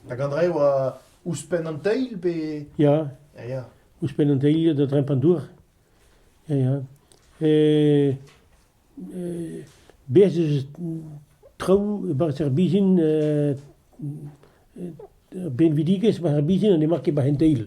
Hag Andre oa ouzhpenn an teil pe... Ya. Ya, ya. Ouzhpenn an teil da dremm an dour. Ya, ya. E, e, bez eus traoù e-barzh ar bizhin, e, benvidigezh war ar bizhin, n'emañ ket war an teil.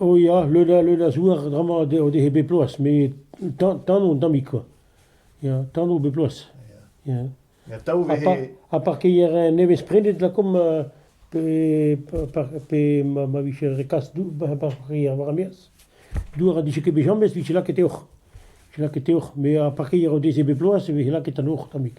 O ya, leun a leun a zouar dramañ o dehe bep bloaz, met tano un tammig kwa, ya tano bep bloaz, ya. Ha parkeier nevez prenet lakaomp pe pe ma vije re kas parkeier war ar-maez, douar a dije ket bet james, vije lakaet e-hoc'h, vije lakaet e-hoc'h, met ar parkeier o deze bep bloaz e vije lakaet an hoc'h tammig.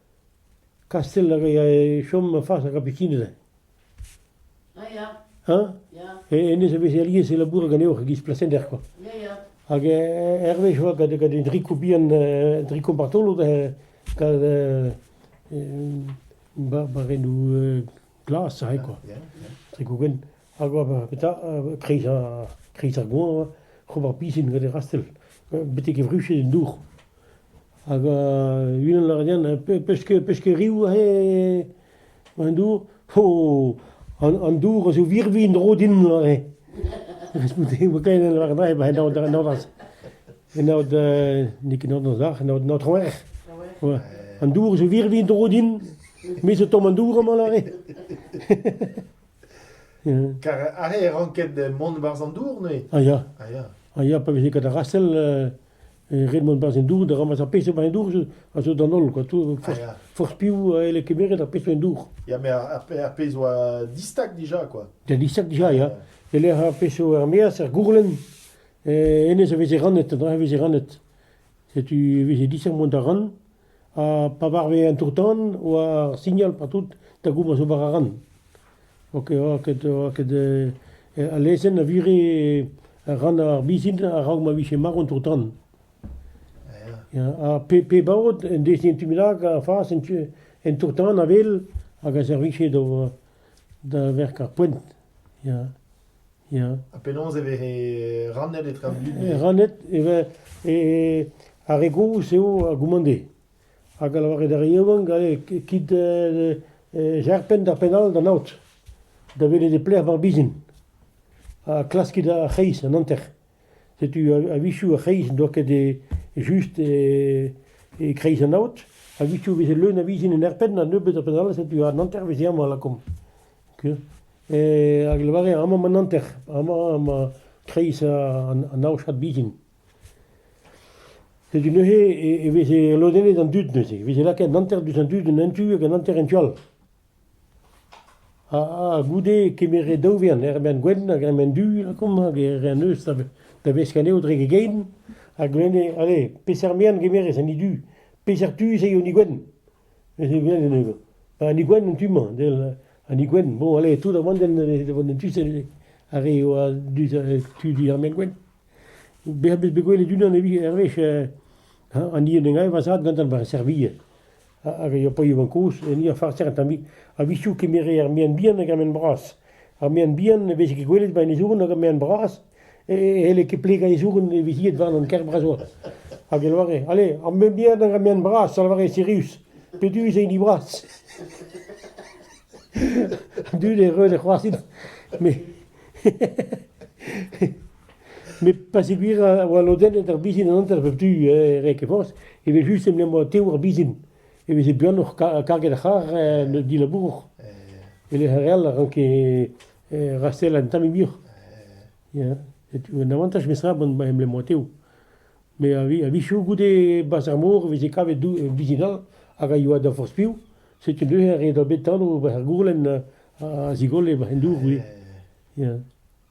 Kastell a rae chom fas ar Gapikinez. Hañ ? E hennezh a veze alies e labourat ganeoc'h e-giz plasender kwa. Hag hervez oa gant gant un driko bihan, un driko martolod gant barbarennoù glas aze kwa. Triko gwenn. Hag ober petra kreiz ar kreiz ar goañv ober pisinn gant e rastell betek e vruched en dour. Hag unan a ra din pesk pesk reoù aze en dour oh an dour a zo virvilh en-dro din aze. Koulskoude e oa kaer da lavaret aze ba en aod en aod n'eo ket an sac'h en aod an Aotrou Hec'h. Voilà. An dour zo virvilh en-dro din, me zo tomm an dour amañ aze. Kar aze e ranket mont e-barzh an dour neuze ? A ya. A ya. A ya pa veze ket rastell e ret mont e-barzh an dour da ramass ar pezh emañ en dour a zo d'an holl quoi. Forzh piv a elle kemeret ar pezh emañ en dour. Ya met ar pezh 'oa distag dija quoi. Ya distag dija ya. E-lec'h ar pezh 'zo er-maez, er gourlenn, hennezh a veze rannet, an dra a veze rannet. Setu e veze distag mont da ran. Ha pa varve un tour-tan oa ur signal pa tout da gompren ober a ran. Oa ket oa ket oa ket al lezenn a vire ran ar bizhin a-raok ma vije marv an tour-tan. Ya ha pe pe baot en deus en tu bennak a fas en tu en tour-tan a-wel hag a servije da da verk ar poent. Ya. Ya. Ha penaos e vez rannet etre an dud? E rannet e vez e- ar re gozh eo a gommande hag a lavaret d'ar re yaouank allez kit gerpen d'ar penn-all d'an aod da welet e-plec'h emañ ar bizhin ha klaskit ar c'hreiz, an hanter. Setu a-wechoù ar c'hreiz n'oa ket just e-kreiz an aod. A-wechoù e veze leun a vizin en aerpenn ha nebeut a penn all, setu an hanter veze amañ lakaomp. Hag e lavare amañ an hanter, amañ emañ kreiz an aochad bizin. Setu neuze e veze lodennet an dud neuze, e veze lakaet an hanter diouzh an dud en un tu hag an hanter en tu all. Ah, goude kemeret daou wern, Hermann Gwenn hag Hermann Du, lakaomp, hag e re anezho da vesk anezho dre gegein, a glenne, allez, peseurt merenn gemerez an hini du, peseurt tu ez eo an hini gwenn ? Neuze e welan anezho. Ba an hini gwenn an tu-mañ, del an hini gwenn. Bon, allez, tout da vont da vont en tu-se ar re a oa tu du Hermann Gwenn. Bezañ bet bet gwelet unan evit, ar wech, an hini en deus graet va zad gantañ war e servij. hag a ya paeañ kozh en Ia Farser tamm-hi. A-wechoù kemere ar mean bihan hag ar mean bras. Ar mean bihan ne veze ket gwelet 'ba an ezourn hag ar mean bras, e c'helle ket plegañ ezourn e vizied warn an kêr bras-holl. Hag e lavare, allez, ar mean bihan hag ar mean bras, a lavare Sirius, petu ez int dibras? An dud e reue da c'hoarzhin, met... Met pa zegouezh a oa lodennet ar bizin an hanter pep tu e Rekke Forzh, evel-just e m'em boa tev ar bizin. E veze buanoc'h karget ar c'harr en ur dilabour e-lec'h ar re all a ranke rastellañ un tammig muioc'h. Ya, setu un avantaj memestra ma em boa tev. Met a-wechoù goude bazh ar mor e veze kavet bizin all hag a yoa da forzh piv. Setu neuze re dra bet anv bazh ar gourlenn a zigolle barzh an dour ivez. Ya.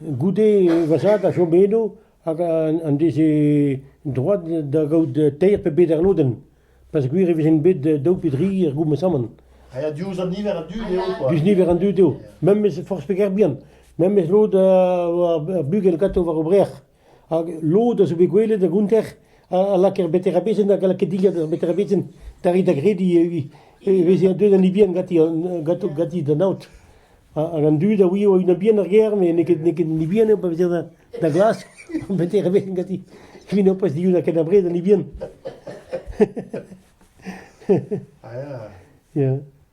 Goude va zad a chome eno hag en deze droad da gaout teir pe beder lodenn, peogwir e vezent bet daou pe dri er gourmesamant. A ya diouzh an niver an dud eo quoi. Diouzh niver an dud eo. Memes forzh peger bihan. Memes lod ar bugel ganto war o brec'h. Hag lod a zo bet gwelet a-gonter a a lak er beterebezenn hag a lak e dilhad er beterebezenn tare da grediñ e vi- e vezañ deuet an Ibien ganti an- ganto- ganti d'an aod. Hag an dud a ouio e-unan bihan ar gêr met n'eo ket n'eo ket an Ibien eo pa vezer da da glask an beterebezenn ganti evit nebeut dihunañ ken abred an Ibien. Ya.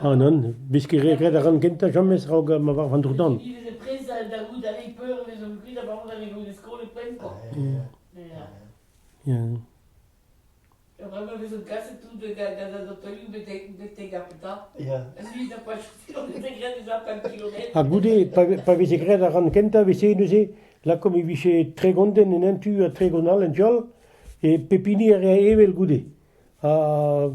Ah nann, beskiñ re ret a ran kentañ james raok ma varvan tro-tan. Ya. Ha bremañ e vezont kaset tout gant an otoioù betek ar Peta. Ha ni da pas on était graet ez a pemp kilometr. Ha goude, pa, pa veze graet ar ran kentañ, veze neuze, lakaomp e vije tregont en un tu ha tregont all en tu all, e pep hini a rea evel goude. ar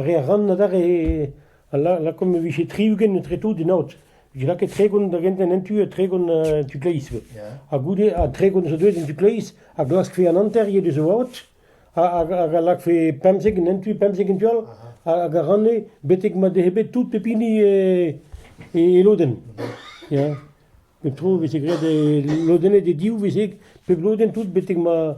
re a ran adarre lakaomp e vije tri-ugent etre tout en aod. Vije lakaet tregont da gentañ en tu ha tregont en tu kleiz ivez. Ha goude, ha tregont zo deuet en tu kleiz a glaskfe an hanter ivez deus o aod hag a lakfe pemzek en un tu, pemzek en tu all hag a ranne betek ma dehe bet tout pep hini e lodenn. Ya. Pep tro e veze graet e lodennet e div veze pep lodenn tout betek ma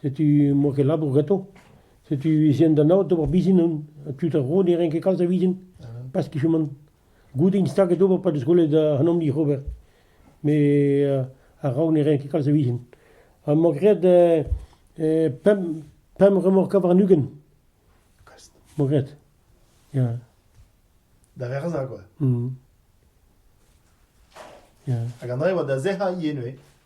Setu emañ ket labour ganto. Setu ez int da naout d'ober bizin on. Ha tud ar vro ne ren ket kalz a vizin pas kichomant. Goude int staget d'ober pa 'deus gwelet an amdir ober. Met a-raok ne ren ket kalz a vizin. Ha emañ graet pemp pemp remorka warn-ugent. emañ graet, ya. Da verzañ kwa. Ya. Hag an dra-se e oa da sec'hañ ivez neuze.